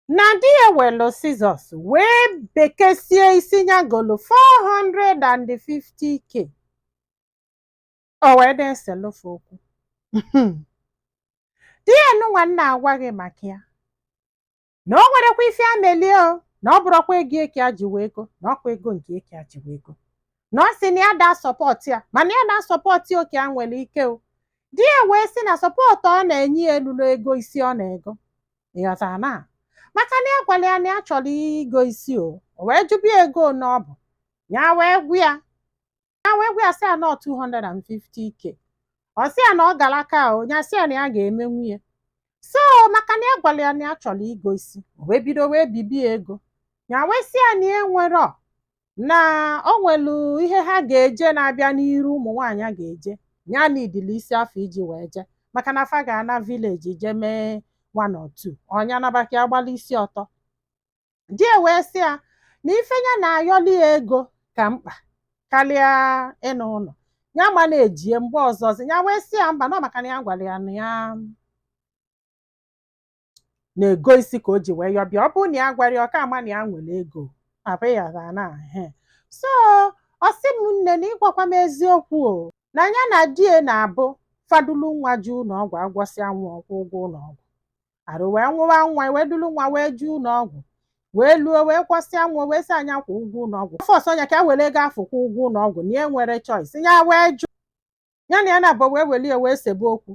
na di ya welu sizọs wee bekesie isi ya golu 450k o wee na-eselu fa okwu di ya nụnwa m na-agwa gị maka ya na o nwerekwa ife a melie o na ọ bụrọkwa ego ya ka ya ji wee go na ọkwa ego nke ya ka ya ji wee go na ọ sị na ya daa sọpọtụ ya mana ya daa sọpọtụ oke ya nwere ike o di ya wee sị na sọpọtụ ọ na-enye ya elulo ego isi ọ na-ego ị ghọtara na maka na ya gwara ya na ya chọrọ igo isi o o wee jụba ya ego ole ọ bụ ya wee gwa ya ya wee gwa ya sị ya na ọ 250k ọ sị ya na ọ gara aka o ya sị ya na ya ga-emenwu ya so maka na ya gwara ya na ya chọrọ igo isi o wee bido wee bibe ya ego ya wee sị ya na ya enwerọ na o nwelu ihe ha ga-eje na-abịa n'iru ụmụ nwaanyị a ga-eje ya niidili isi afụ iji wee jee maka na fa ga-ana vileji je mee one or two ọ nya naba ka ya gbala isi ọtọ di ya wee sị ya na ife ya na-ayọli ya ego ka mkpa karịa ịna ụlọ ya ma na-ejie mgbe ọzọzi ya wee sị ya mba na ọ maka na ya gwara ya na ya na-ego isi ka o ji wee yọba ya ọ bụrụ na ya agwarọ ya ọ ka ama na ya nwere ego papa ya ga na he so ọ sị m nne na ịgwakwa m eziokwu o na ya na di ya na-abụ fa dulu nwa je ụlọ ọgwụ a gwọsịa nwa ọ kwụọ ụgwọ ụlọ ọgwụ arụ wee nwụwa nwa wee dulu nwa wee je ụlọ ọgwụ wee luo wee gwọsịa nwa wee sị ya nya kwụọ ụgwọ ụlọ ọgwụ fọsụọ nya ka ya were ego afụ kwụọ ụgwọ ụlọ ọgwụ na ya enwerọ choice ya wee jụ ya na ya naabọ wee welie wee sebe okwu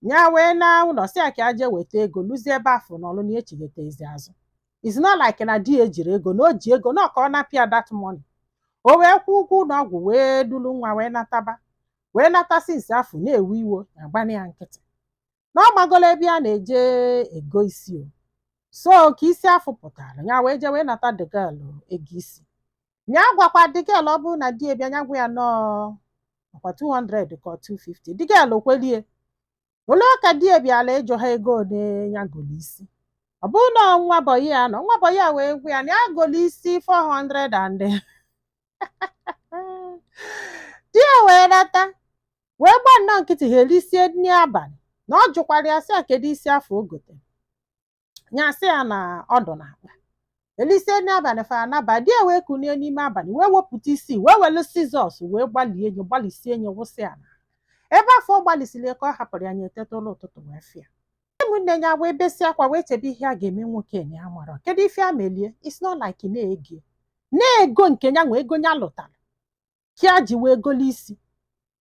ya wee na ụlọ sị ya ka ya jee weta ego luzie ebe afụ nọlụ na echighatazi azụ it's not like na di ya ejirọ ego na o ji ego na ọ ka ọ napụ ya that money o wee kwụọ ụgwọ ụlọ ọgwụ wee dulu nwa wee nataba wee nata sinsi afụ na-ewe iwe ya agbana ya nkịtị na ọ magola ebe ya na-eje ego isi o so ka isi afụ pụtara ya wee jee wee nata the girl ego isi ya gwakwa the girl ọ bụrụ na di ya bịa ya gwa ya na ọ ọkwa 200 ka ọ 250 the girl ekwelie o luo ka di ya bịala ịjụ ha ego ole ya golu isi ọ bụrụ na nwa bọyị ya nọ nwa bọyị ya wee gwa ya na ya golu isi 400 and di ya wee nata wee gba nnọọ nkịtị ha erisie nri abalị na ọ jụkwara ya sị ya kedu isi afụ o gotere ya sị ya na ọ dụ n'akpa elisie nri abalị fara naba di ya wee kunie n'ime abalị wee wepụta isi wee welu sizọs wee gbalie nya gbalisie nya wụsị ya na ebe afụ ọ gbalisiri ya ka ọ hapụrụ ya nya eteta ụla ụtụtụ wee fụ ya ụmụnne ya wee besie akwa wee chebe ihe a ga-eme nwoke enye ya mara kedu ife ya melu ya it's not like na ego na ego nke ya nwe ego ya lụtara ka ya ji wee golo isi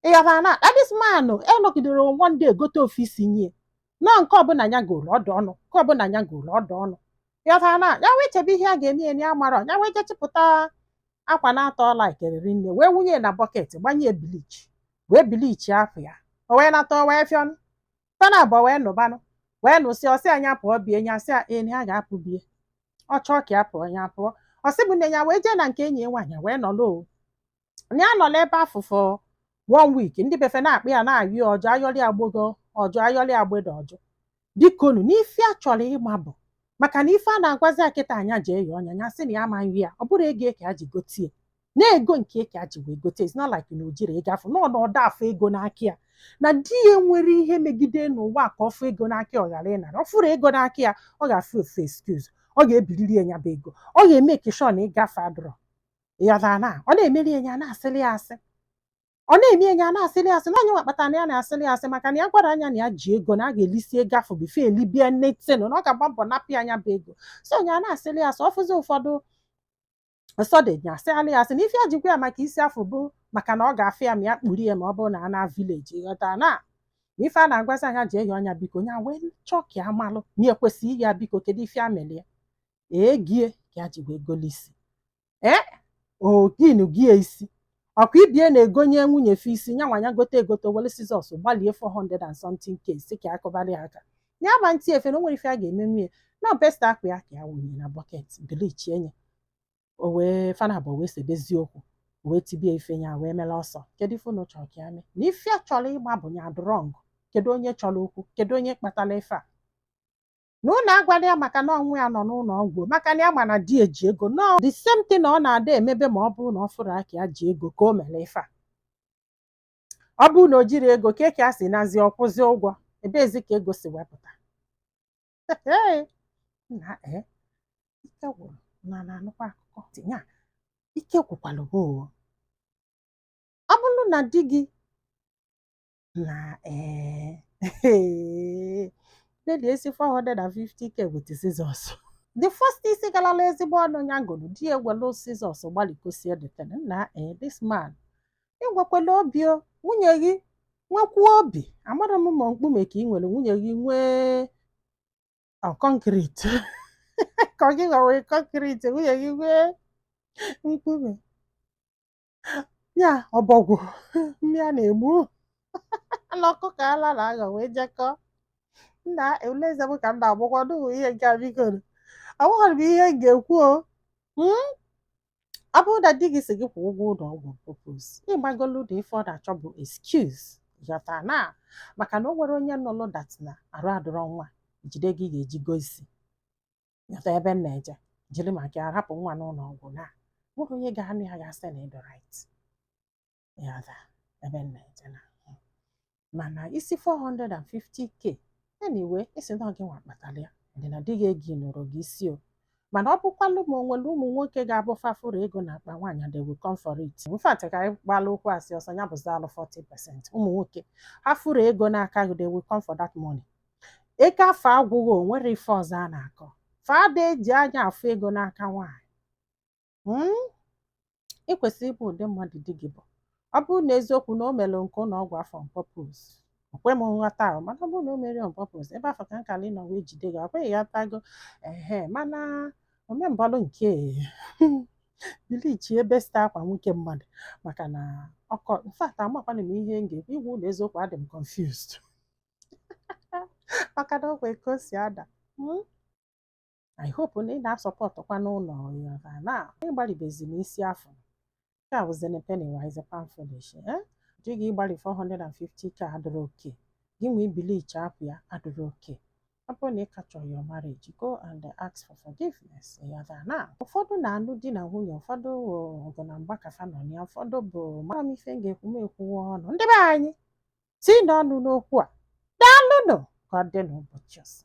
ịghara na akpa this man enọgidere one day egote ofu isi nye nọ nke ọbụla ya goro ọ dị ọnụ nke ọbụla ya goro ọ dị ọnụ ịghara na ya wee chebe ihe a ga-eme enye ya mara ya wee jee chịpụta akwa na-atọ ọla ikeriri nne wee wunye na bucket gbanye bleach wee bleachie afọ ya o wee nata o wee fịọ fa na abụọ wee nụbanụ wee nụsị ọ sị nya pụọ be ya nya sị ee na ya ga-apụ be ya ọ chọọ ka ya pụọ ya pụọ ọ sị bụ nne ya wee jee na nke enyi ya nwaanyị wee nọlụ o na ya nọla ebe afụ for one week ndị be fa na-akpọ ya na-ayọ ya ọ jụ a yọrị agbago ọ jụ a yọrị agbada ọ jụ bikonu n'ife ya chọrọ ịma bụ maka na ife a na-agwazi ya kịta nya jee yọọ nya ya sị na ya amaghị ya ọ bụrọ ego ka ya ji gotie na ego nke ya ka ya ji wee gote it's not like na o jiri ego afụ nọọ na ọ da-afụ ego n'aka ya na di ya nwere ihe megide n'ụwa ka ọ fụ ego n'aka ya ọ ghara ịnara ọ fụrụ ego n'aka ya ọ ga-afụ ofu excuse ọ ga-ebiriri ya nya bụ ego ọ ga-emake sure na ego afụ adịrọ ya na ọ na-emeri ya nya na-asịrị ya asị ọ na-eme ya nya na-asịrị ya asị na ọ nya nwa kpatara na ya na-asịrị ya asị maka na ya gwara nya na ya ji ego na a ga-elisi ego afụ before elibia nne tenu na ọ ga-agba mbọ napụ ya nya bụ ego so nya na-asịrị ya asị ọ fụzi ụfọdụ Ọsọdị nya asịalị ya asị na ife ya ji gwa ya maka isi afụ bụ maka na ọ ga-afụ ya ma ya kpuru ya ma ọ bụrụ na a na village ghọta na na ife a na-agwazi nya jee yọọ nya biko ya wee chọọ ka ya malụ ma ya ekwesịghị ịyọ ya biko kedu ife ya mere ya ego ya ka ya ji wee golu isi ee o gonyego ya isi Ọkwa ibe ya na-egonye nwunye fa isi, nya nwa nya gote egote, o were scissors gbalie 400 and something k sị ka ya kụbara ya aka. Ya ma nti efe na o nwere ife ya ga-eme nwunye. Na best akwa ya ka ya wụnye na bucket, bleachie nye. O wee fa naabọ wee sebezie okwu, o wee tibe ya ife ya wee mere ọsọ. Kedu ife unu chọrọ ka ya mee? Na ife ya chọrọ ịma bụ onye dị wrong. Kedu onye chọrọ okwu? Kedu onye kpatara ife a? na unu agwala ya maka na ọnwụ ya nọ n'ụlọ ọgwụ maka na ya ma na di ya ji ego na ọ the same thing na ọ na-adị emebe ma ọ bụrụ na ọ fụrụ aka ya ji ego ka o mere ife a ọ bụrụ na o jiri ego ka eke a si nazi ọ kwụzi ụgwọ ebezi ka ego si wee pụta na ee ike gwụrụ na na-anụkwa akụkọ tinye a ike gwụkwara gị oo ọ bụrụ na di gị na ee eh, nalị isi 450k with scissors the first isi galala ezigbo ọnụ ya golu di ya ewelu scissors gbalikọsie the thing na ee eh, this man i nwekwelu obi nwunye gị nwekwuo obi amarọ m ma mkpume ka i nwere nwunye gị nwee concrete ka ọ gị nwe concrete nwunye gị nwee mkpume ya ọbọgwụ mmịa na-egbu na ọkụkọ ala na-aghọ wee jekọ nna eleze m ka m na-agbakwa n'ụmụ ihe nke a biko nụ. Amaghịrị m ihe m ga-ekwu o Hmm? ọ bụrụ na di gị si gị kwụ ụgwọ ụlọ ọgwụ on purpose ị magolu na ife ọ na-achọ bụ excuse ghọta na maka na o nwere onye nụlụ that na arụ adịrọ nwa jide gị ga-eji gosi ị ghọta ebe m na-eje jiri maka ya rapụ nwa n'ụlọ ọgwụ na o nwerọ onye ga-anụ ya ga-asị na ị dị right ị ghọta ebe m na-eje na mana ị sị 450k anyway ị sị na gị nwa kpatara ya dị na di gị ego ịnụrụ gị isi o mana ọ bụkwalụ ma onwere ụmụ nwoke ga-abụ fa fụrụ ego na akpa nwaanyị they will come for it in fact ka anyị gbalụ okwu asị ọsọ ya bụzi alụ 40 percent ụmụ nwoke ha fụrụ ego n'aka gị they will come for that money ego afụ agwụghị o nwere ife ọzọ a na-akọ fa ada eji anya afụ ego n'aka nwaanyị mm? ị kwesịrị ịma ụdị mmadụ di gị bụ ọ bụrụ na eziokwu na o mere nke ụlọ ọgwụ afụ on purpose o kwe m nghọta ahụ mana ọ bụrụ na o mere on purpose ebe afụ ka nkala ịnọ wee jide gị akwa ị ghọtago ehe mana o me mbọlụ nke bleach ebe site akwa nwoke mmadụ maka na ọkọ in fact amakwana m ihe m ga-ekwu ịgwa unu eziokwu adị m confused maka na ọkwa ka o si ada hmm? I hope na ị na-asupportụkwa n'ụlọ yọra na ịgbalibezi n'isi afụ nke a bụzi penny wise pound foolish eh? di gị ịgbalị 450k adịrọ okay gị nwa ịbleach akwa ya adịrọ okay ọ bụrụ na ị ka chọrọ your marriage go and ask for forgiveness yọra na ụfọdụ na-alụ di na nwunye ụfọdụ ọgụ na mgba ka fa nọ ya ụfọdụ bụ amarọ m ife m ga-ekwu m ekwuwa ọnụ ndị be anyị tinye ọnụ n'okwu a daalụnụ ka ọ dị n'ụbọchị ọzọ